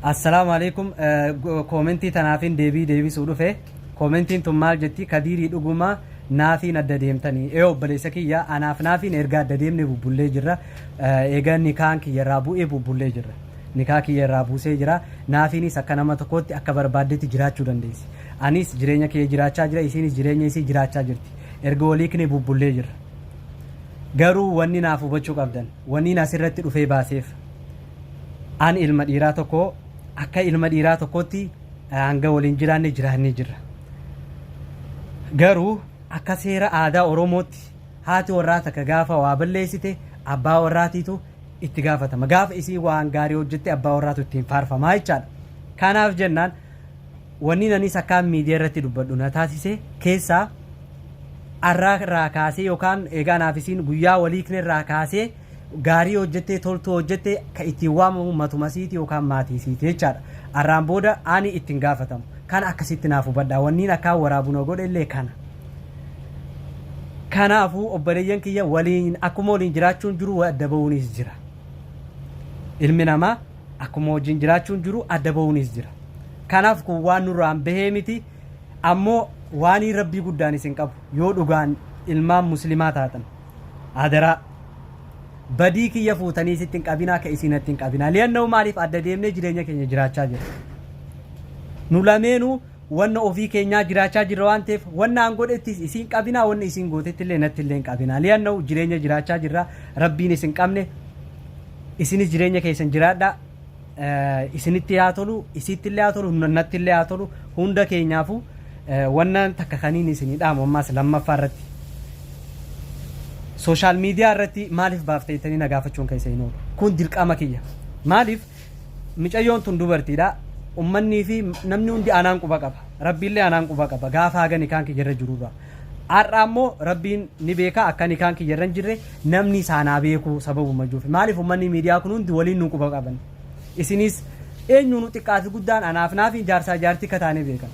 Assalaamu alaikum koomentii tanaafin deebii deebisuu dhufe koomentiin tun maal jetti kadiirii dhuguma naafiin adda deemtanii ee obboleessa kiyya anaaf naafiin erga adda deemne bubbullee jirra eega nikaan kiyya irraa bu'ee bubbullee jirra nikaa kiyya irraa buusee jira naafiinis akka nama tokkootti akka barbaaddetti jiraachuu dandeessi anis jireenya kiyya jiraachaa jira isiinis jireenya isii jiraachaa jirti erga waliikne bubbullee jirra garuu wanni naaf hubachuu qabdan wanniin asirratti dhufee baaseef Ani ilma dhiiraa tokko akka ilma dhiiraa tokkootti hanga waliin jiraanne jiraannee jirra. Garuu akka seera aadaa Oromootti haati warraa takka gaafa waa balleessite abbaa warraatiitu itti gaafatama. Gaafa isiin waan gaarii hojjette abbaa warraatu ittiin faarfamaa jechaadha. Kanaaf jennaan wanni anis akkaan miidiyaa irratti dubbadhu na taasise keessaa arraa irraa kaasee yookaan egaa naaf isiin guyyaa walii irraa kaasee gaarii hojjettee toltuu hojjette ka ittiin waamamu matuma siiti yookaan maatii siiti jechaadha. Arraan booda ani ittin gaafatamu. Kana akkasitti naaf hubadhaa. Wanniin akkaan waraabu na godhe illee kana. Kanaafuu obboleeyyan kiyya waliin akkuma waliin jiraachuun jiru wa adda ba'uunis jira. Ilmi namaa akkuma wajjin jiraachuun jiru adda ba'uunis jira. Kanaaf kun waan nurraan bahee miti. Ammoo waanii rabbii guddaan isin qabu yoo dhugaan ilmaan muslimaa taatan. Adaraa. Badii kiyya fuutanii isitti hin qabinaa akka isii natti hin qabinaa. Li'annahu maaliif adda deemnee jireenya keenya jiraachaa jirra. Nu lameenuu wanna ofii keenyaa jiraachaa jirra waan ta'eef wanna an godhettis isii hin qabinaa wanna isiin gootetti illee natti illee hin qabinaa. Li'annahu jireenya jiraachaa jirra. Rabbiin isin qabne isinis jireenya keessan jiraadhaa. isinitti haa tolu isiitti illee haa tolu natti illee haa tolu hunda keenyaafu wanna takka kaniin isinii dhaamu ammaas lammaffaa irratti sooshaal miidiyaa irratti maaliif baafte jettanii na gaafachuun keessa hin oolu kun dirqama kiyya maaliif micayyoon tun dubartiidha ummannii fi namni hundi anaan quba qaba rabbiillee anaan quba qaba gaafa hagani kaan kiyya irra jirurra Har'a ammoo Rabbiin ni beeka akka nikaan kiyya irra hin jirre namni isaan haa beeku sababuma jiruuf. Maaliif uummanni miidiyaa kun hundi waliin nu quba qaban. Isinis eenyuunu xiqqaa fi guddaan anaaf naafi jaarsaa jaartii akka taane beekan.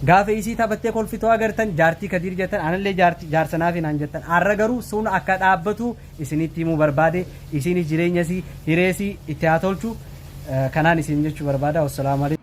Gaafa isii taphattee kolfituu agartan jaartii kadiir jettan anallee jaarti- jaarsa naafi naan jettan. Har'a garuu sun akka dhaabbatu isinitti himuu barbaade isiinis jireenya isii hiree isii itti haa tolchu. Eh, Kanaan isin jechuu barbaada. Wassalaamu alaikum.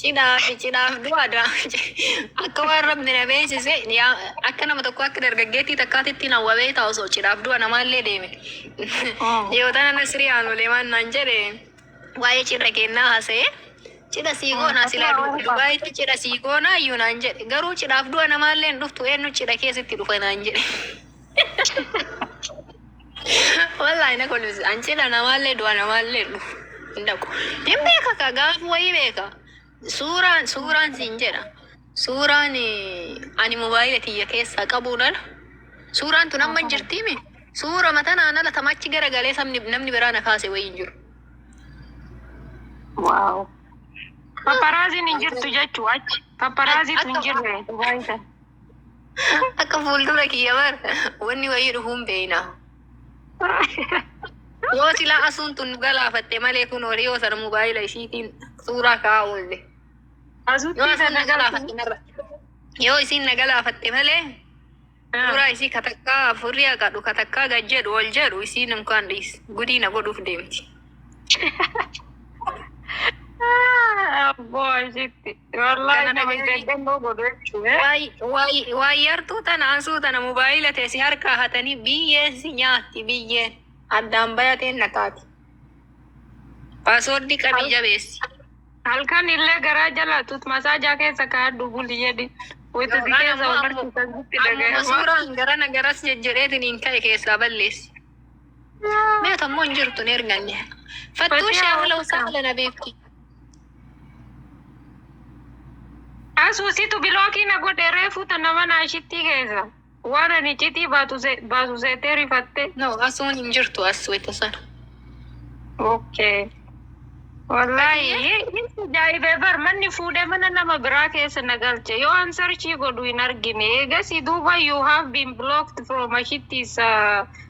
Cidhaaf cidhaaf du'a du'a akka waan rabbi na beeksise yaa akka nama tokko akka dargaggeettii takkaatitti na hawwa beektaa osoo cidhaaf du'a namaallee deeme yoo tana nasrii aanulee waan naan jedhe waa'ee cidha kennaa haasa'e cidha sii goonaa silaa du- dubaayitti cidha sii goonaa iyyuu naan jedhe garuu cidhaaf du'a namaallee hin dhuftu eenyu cidha keessitti dhufa naan jedhe. Wallahi na kolfisi. An cidha namaallee du'a namaallee hin dhufu. Hin dhaqu. Hin beeka ka gaaf wayii beeka. Suuraan suuraan siin jedha. Suuraan eh, ani mobaayila kiyya keessaa qabuun ala. Suuraan tun amma hin jirtiimi. Suura matanaan ala tamachi gara galee sabni namni biraa na kaase wayii hin jiru. Waaw. Paparaaziin hin jirtu jechuu achi. Paparaaziitu hin jirre Dubaay sana. Akka fuuldura kiyya bar wanni wayii dhufuun beeyna. Yoo silaa asuun tun galaafatte malee kun horii yoo sana mobaayila ishiitiin suuraa kaa'aa oolle. Yoo Asuutti asuun na kana galaafatte marra. Yoo isiin na galaafatte malee suuraa isii katakkaa afurri haqadhu katakkaa gad jedhu ol jedhu isiin inkaan dhiis gudii na godhuuf deemti. Abboo ashitti. Wallahi Kana nama dhagahanii- jajjannoo godhu jechuudha. Waay- waay- waayyartuu tana ansuu tana mobaayila tee si harkaa hatanii biyyeen si nyaatti biyyeen addaan bayateen na taati paaswoordii qabii jabeessi Halkan illee garaa jalaatut masaajaa keessa kaadhu buli jedhi. Wayita si keessa wal barsiisan sitti ammuma dhaga'ama. suuraan garana garas jejjedheetiin hin ka'e keessaa balleessi Meeqa immoo hin jirtu hin erganne. Fattuu ishee haala usaa haala na beekti. Asuusitu bilookii na godhe reefuu tana mana ishitti keessa. Waan ani icitii baatu se- baasu seetee rifatte. No asuun hin jirtu as wayita sana. Okay. Wallahi jaa'ibee bar manni fuudhee mana nama biraa keessa na galche yoo an sarchii godhu hin argine eegasii duuba you have been blocked from ashittiis uh,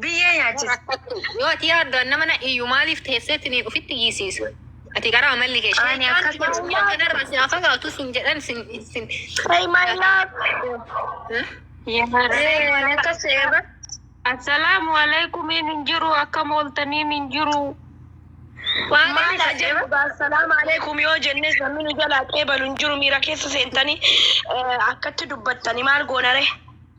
Biyyee nyaachisa. Rakkattu. Yoo ati yaaddu an nama nadhiiyyu maaliif teesseeti ni ofitti iyyisiisa. Ati gara amalli kee. Ani Shayxaanni akkas jedhu. Maayyaa kanarraa si haa fagaatu sin jedhan sin sin. Ay my love. Ee, ani akkas ta'e bar. Assalaamu aleykumiin hin jiru akkam ooltaniin hin jiru. Waan Maal inni haa jedhe jennu bar. gaa salaam aleekum yoo jennes namni nu jalaa qeebalu hin jiru miira keessa seentanii eh, akkatti dubbattani maal goonare.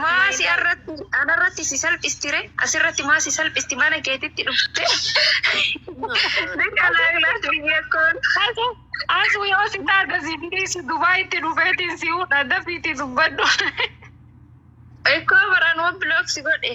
Maa si irratti anarratti si salphistire asirratti maa si salphisti mana keetitti dhufte dikalaaglaas biyya koon Asu asu yoo si taate si bineessi Dubaayitti dhufeetiin si hudha dafiitii dubbadhu. Ikkoo baran waan biloog si godhe.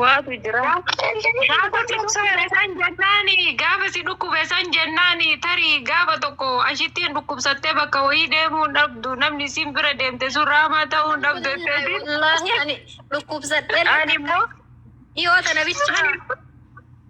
Waatu jira. Gaafa si dhukkube san jennaani gaafa si dhukkube san jennaani tarii gaafa tokko ashittiin dhukkubsattee bakka wayii deemuu hin dhabdu namni siin bira deemte sun raamaa ta'uu hin dhabdu jetteeti. Wallaahi ani dhukkubsadhee Ani immoo dhiyoo tana bichaa.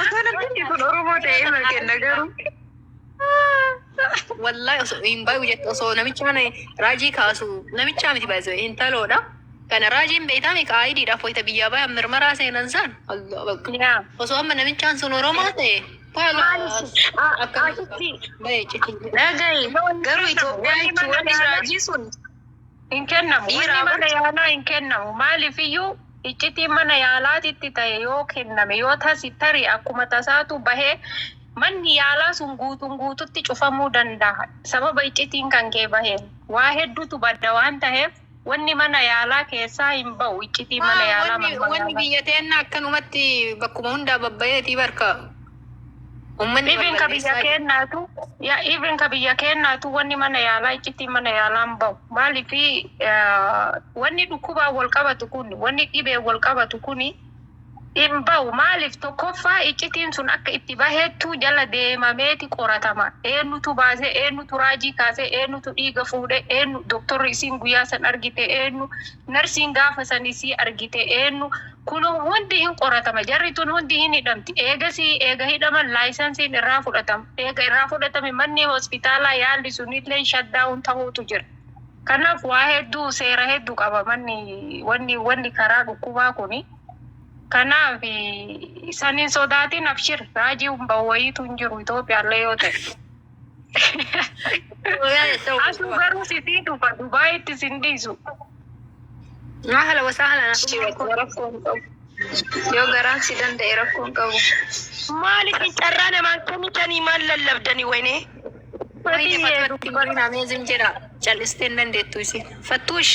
Osoo namtichi kun Oromoo ta'ee irra kenna garuu. Wallahi osoo hin baay'u jette osoo namichi kana raajii kaasu namichaa miti baay'isoo intaloodha. Kana raajiin beektaa mika ayidiidhaaf wayita biyyaa bayan mirmaraa seenan san. Allah bakka. Yaa. Osoo amma namichaan sun Oromoo ta'e. Asitti Baay'ee citii. dhagahi garuu Itoophiyaa jechuun wanni raajii sun Hin kennamu. Dhiiraa Wanni mana bar- yaalaa hin kennamu. Maaliif iyyuu iccitiin mana yaalaatitti ta'e yoo kenname yoo tasi tari akkuma tasaatu bahee manni yaalaa sun guutuun guututti cufamuu danda'a. Sababa iccitiin kan kee baheen waa hedduutu badda waan taheef wanni mana yaalaa keessaa hin ba'u iccitiin mana yaalaa Wanni manuma wanni yaalaa. biyya teenna akkanumatti bakkuma hundaa babbayeetii barka Ummanni Even ka biyya balballeessaa keennaatu ya even ka biyya keennaatu wanni mana yaalaa iccitiin mana yaalaan bahu maaliif wanni dhukkubaan wal qabatu kun wanni dhibeen wal qabatu kun hin bahu maaliif tokkoffaa iccitiin sun akka itti baheettu jala deemameeti qoratama eenyutu baasee eenyutu raajii kaasee eenyutu dhiiga fuudhe eenyu doktorri isiin guyyaa san argite eenyu narsiin gaafa san isii argite eenyu Kun hundi hin qoratama. Jarri tun hundi hin hidhamti. Eegasii eega hidhaman laayisansiin irraa fudhatama. Eega irraa fudhatame manni hospitaalaa yaalli sunilleen shutdown tahuutu jira. Kanaaf waa hedduu seera heddu qaba manni wanni wanni karaa dhukkubaa kuni. Kanaaf san hin sodaatin abshir raajiin bahu wayiitu hin jiru Itoophiyaallee yoo tahe. Asuu garuu sitii dhufa Dubaayitti sin dhiisu. Mahala wasaa halan asii wajjin rakkoo hin qabu. Yoo garaan si danda'e rakkoo hin qabu. Maal isin carraa namaan kennitanii maal lallabdanii wayne? Wayne fattuu hin amazing jedha. Callistee hin dandeettu isin. Fattuush.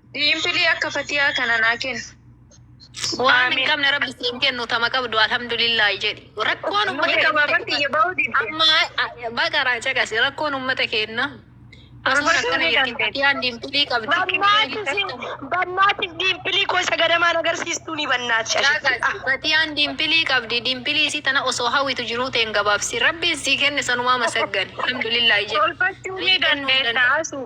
Diimpilii akka fatiyaa kana naa kenni. Waan hin Aamiin. qabne rabbi siin kennu tama qabdu alhamdulillaahi jedhi. Rakkoon Nuyi uummata gabaabaa keenya kiyya bahuu didde. amma a- baqaraa caqasi rakkoon uummata keenya. Asuma Barbaaduu rakkana ni jirti dandeenya. fatiyaan diimpilii qabdi. Bannaatis bannaatis diimpilii koo isa gadamaan agarsiistuu ni bannaati shashitti. Ah, Fatiyaan diimpilii qabdi. Diimpilii isii tana osoo hawwitu jiruu ta'een gabaabsi. Rabbiin sii kenne sanumaa masaggani. Alhamdulillaahi jedhi. Tolfachuu ni dandeessa asuu.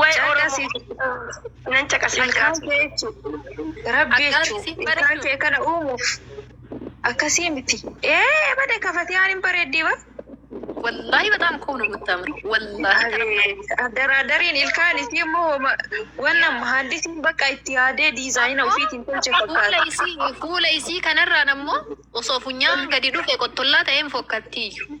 Way Oromoo nan caqasa ilkaan kee jechu rabbi jechu ilkaan kee kana uumuuf akkasii miti ee bade ka fatiyaan hin bareeddii bar Wallahi bataam qub nu guttamre. Wallahi abeet addaraadariin ilkaan isii immoo homa wanna mahaandisiin bakka itti yaadee diizaayina ofiitiin tolche fuula fakkaata isii fuula isii kanarraan ammoo osoo funyaan gadi dhufe qottollaa ta'een fokkattiiyyu.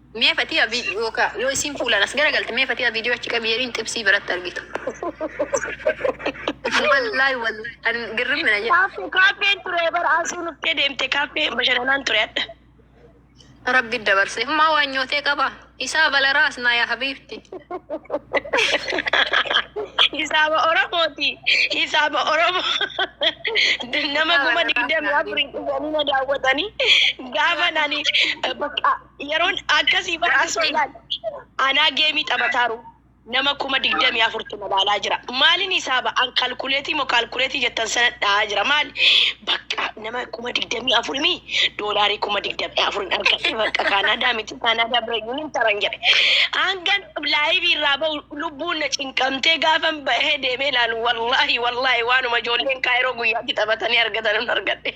Mee fatiya vi yooka yoo isiin fuulaan as gara galte mee fatiya video achi qabi yeriin xibsii biratti argitu. Wallahi wallahi an girrim na jedhe. Kaaffee kaaffeen ture bara asuu nuftee deemte kaaffee bashananaan ture adda. Rabbi dabarse maa waan nyootee qaba. Isaa balaraa as naa yaa habiibti. Hisaaba Oromooti. Hisaaba Oromoo. Nama kuma digdami afur hin dhufanii na daawwatanii. Gaafa nani bakka Yeroon akkasii bara asoo ilaali. Anaa geemii taphataaru nama kuma digdamii afurtu na laalaa jira. Maalin hisaaba an kalkuleetii moo kaalkuleetii jettan sana dha'aa jira maali? Bakka nama kuma digdamii afur mii doolaarii kuma digdamii afurin argadhe bakka Kaanaadaa miti Kaanaadaa bira iyyuu hin taran jedhe. Hangan laayivii irraa ba'u lubbuun na cinqamtee gaafan bahee deemee ilaalu wallaahi wallaahi waanuma ijoolleen kaayiroo guyyaatti taphatanii argatan hin argadhe.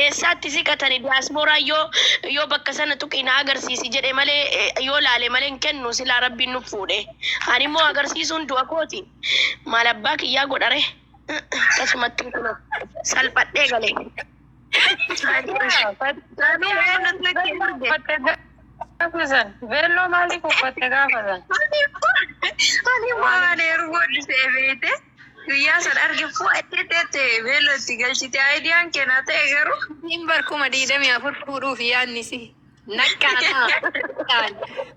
Eessaatti siqatani diasporaan yoo yoo bakka sana tuqi na agarsiisi jedhe malee eh, yoo laale malee hin kennu silaa rabbiin nuf fuudhe ani immoo agarsiisuun du'a kooti maal abbaa kiyyaa godhare akkasumatti kuno salphadhee gale Veelloo maaliif uffatte gaafa san? Ani immoo ani immoo ani erga guddisee beekte. Guyyaa san arge fuu achi teette beelloo itti galchite aayidiyaan keenaa ta'e garuu. Siin bar kuma diidamii afur fuudhuuf yaadni si naqqaanaa.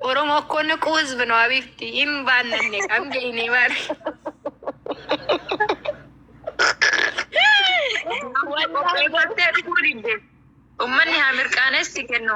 Oromoo akkoo naquu hizbi no abifti hin baannanne kam jeyne bar. Qopheeffattee dhufuu didde. Ummanni haa mirqaanees si kennu.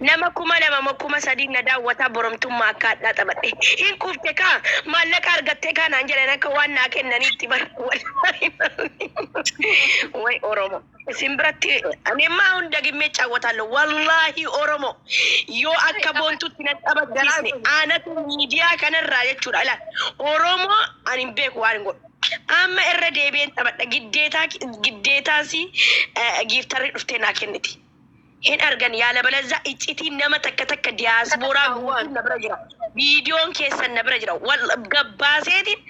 Nama kuma lama moo kuma sadii na daawwataa boromtummaa akka hadhaa taphadhe. Hin quufte kaa! Maallaqa argattee kaa naan jedhan akka waan naa kennaniitti bar wallaahi malli way oromo isin biratti ani amma ahun dagimmee iccaawwataallo wallaahi oromo yoo akka boontutti na taphachiisne aanatu miidiyaa kanarraa jechuudha ilaal oromo ani hin beeku waan hin godhu amma irra deebi'een taphadha giddeetaa giddeetaasi giiftarri dhuftee naa kenniti. Hin argan yaalabalazza iccitiin nama takka takka diyaasbooraa guutuun na bira jira. Viidiyoon keessan na bira jira. Wal gabbaaseetiin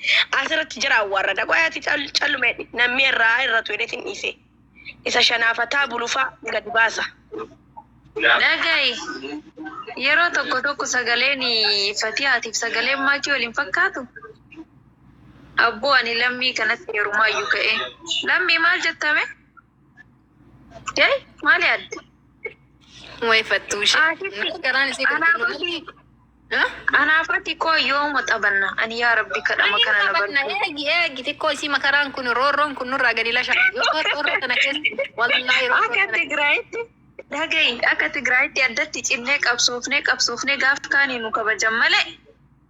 asirratti jira awwaarrada. Qoy ati callume namni irraa irratu jedheetiin dhiise. Isa shanaafataa bulufaa gadi baasa. Dhagayi yeroo tokko tokko sagaleen Fatiyaatiif sagaleen Maakii wal hin fakkaatu. Abboo ani lammii kanatti yerumaayyuu ka'ee. Lammii maal jettame? Jai maali adda? Way fattuu ishee. Asitti Garaan isii anaa gurguruu fati malee. Ha? anaa fati koo yooma taphanna ani yaa rabbi kadhama kana na Taphatna barbaadu. eegi eegi xiqqoo isii makaraan kun roorroon kun nurraa gadi lasha. Yoo roorroo kana keessa wallaahi roorroo Akka kana Tigraayitti dhagayi akka Tigraayitti addatti cinnee qabsoofnee qabsoofnee gaaf kaanii nu kabajan malee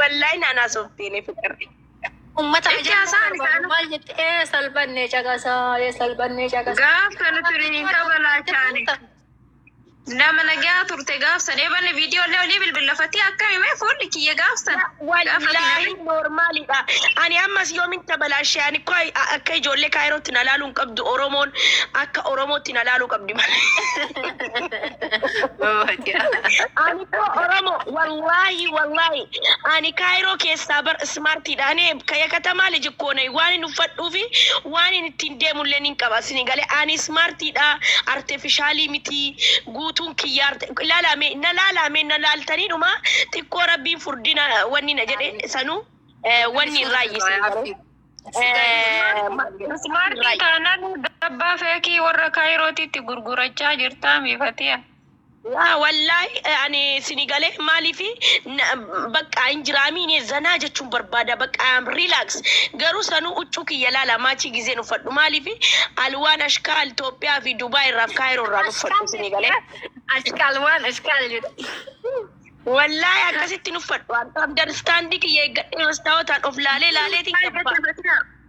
Wallahi naan haasoftiin fiqir. Ummata Itti ajaa'iba haasa'an barbaadu. isaanuu. Maal jette? Ee salphannee caqasaa, ee salphannee caqasaa. Gaaf sana firii qaba laachaani. Nama nagaa turte gaaf sana eebanne viidiyoo illee olii bilbilafatee akka himee fuulli kiyya gaaf sana. Wallaahi noormaalidha. Ani ammas yoomin tabalaashe ani koo akka ijoollee kaayirootti na laaluu hin qabdu Oromoon akka Oromootti na laaluu qabdi malee. Ani Oromo wallahi wallahi ani kaayiroo keessaa bar ismaartiidha ani kaya katamaa liji koonay waan hin uffadhuu fi waan hin ittiin deemullee nin qaba sini galee ani ismaartiidha artefishaalii mitii guutuun kiyyaa arte ilaalame na laalame na laaltanii dhuma xiqqoo rabbiin furdina wanni na jedhe sanuu eh, wanni hin raayyisne garuu Ismaartii taanaan dabbaa feekii warra kaayirootiitti gurgurachaa jirtaa miifatiya. Waa wallahi ani sini gale maalifi bakka hin jiraami ini zanaa jechuun barbaada bakka am relax garuu sanuu uccuu kiyya laala maachii gizeen uffadhu maalifi alwaan ashkaa Itoophiyaa fi Dubai irraaf kaayiroo irraan uffadhu sini gale ashkaal waan ashkaal jedhe wallahi akkasittin uffadhu akka abdan standii kiyya eeggadhee mastaawotaan of laalee laaleetiin qabba.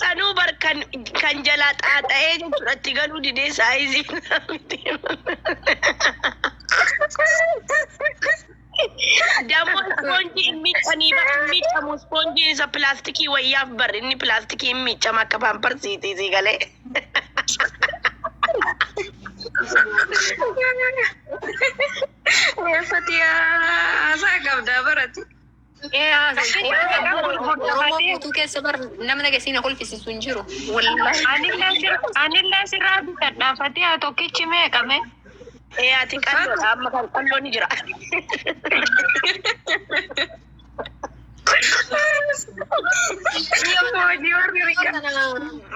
Sanuu bar kan kan jalaa xaaxa'ee jechuudha itti galuu didee saayizii isaa miti. Dammo ispoonjii hin miiccanii bar hin miiccamu ispoonjiin isa pilaastikii wayyaaf bar inni pilaastikii hin miiccama akka paamparsiitii sii galee. Fatiyaa haasaa qabdaa barati. Oromoo guutuu keessa bar nama nageessii na kolfisiisu hin jiru. Wallahi. Anillee sir- anillee sirraa bitadha. Fatiyaa tokkichi meeqa mee? Ee ati qalloodha amma kan qalloo ni jira.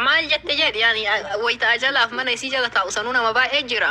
Maal jette jedhi yaani wayita ajalaaf mana isii jala taa'u sanuu nama baay'ee jira.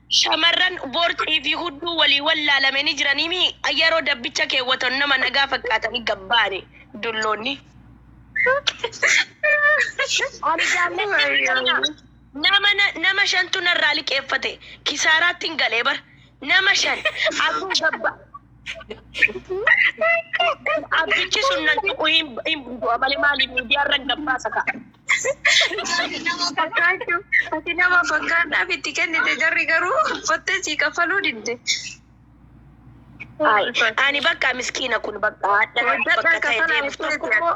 Shamarran boorcii fi hudduu walii wallaalame ni jiranii mii? Yeroo dabbicha keewwatan nama nagaa fakkaatanii gad ba'ani dulloonni. Ani jaalladhee hin qabna. Nama na- nama shantu narraa liqeeffate. Kisaaraattin galee bar. Nama shan. Abdii gabba. Abdichi sun nan tuqu hin hin du'a malee maaliif miidiyaarra gabbaasa ka'a. Nama fakkaachuu. Ati nama fakkaadhaaf itti kennite jarri garuu uffattee sii kaffaluu didde. Ay, ani bakka miskiina kun bakka hadha bakka ta'e deemuuf tokko immoo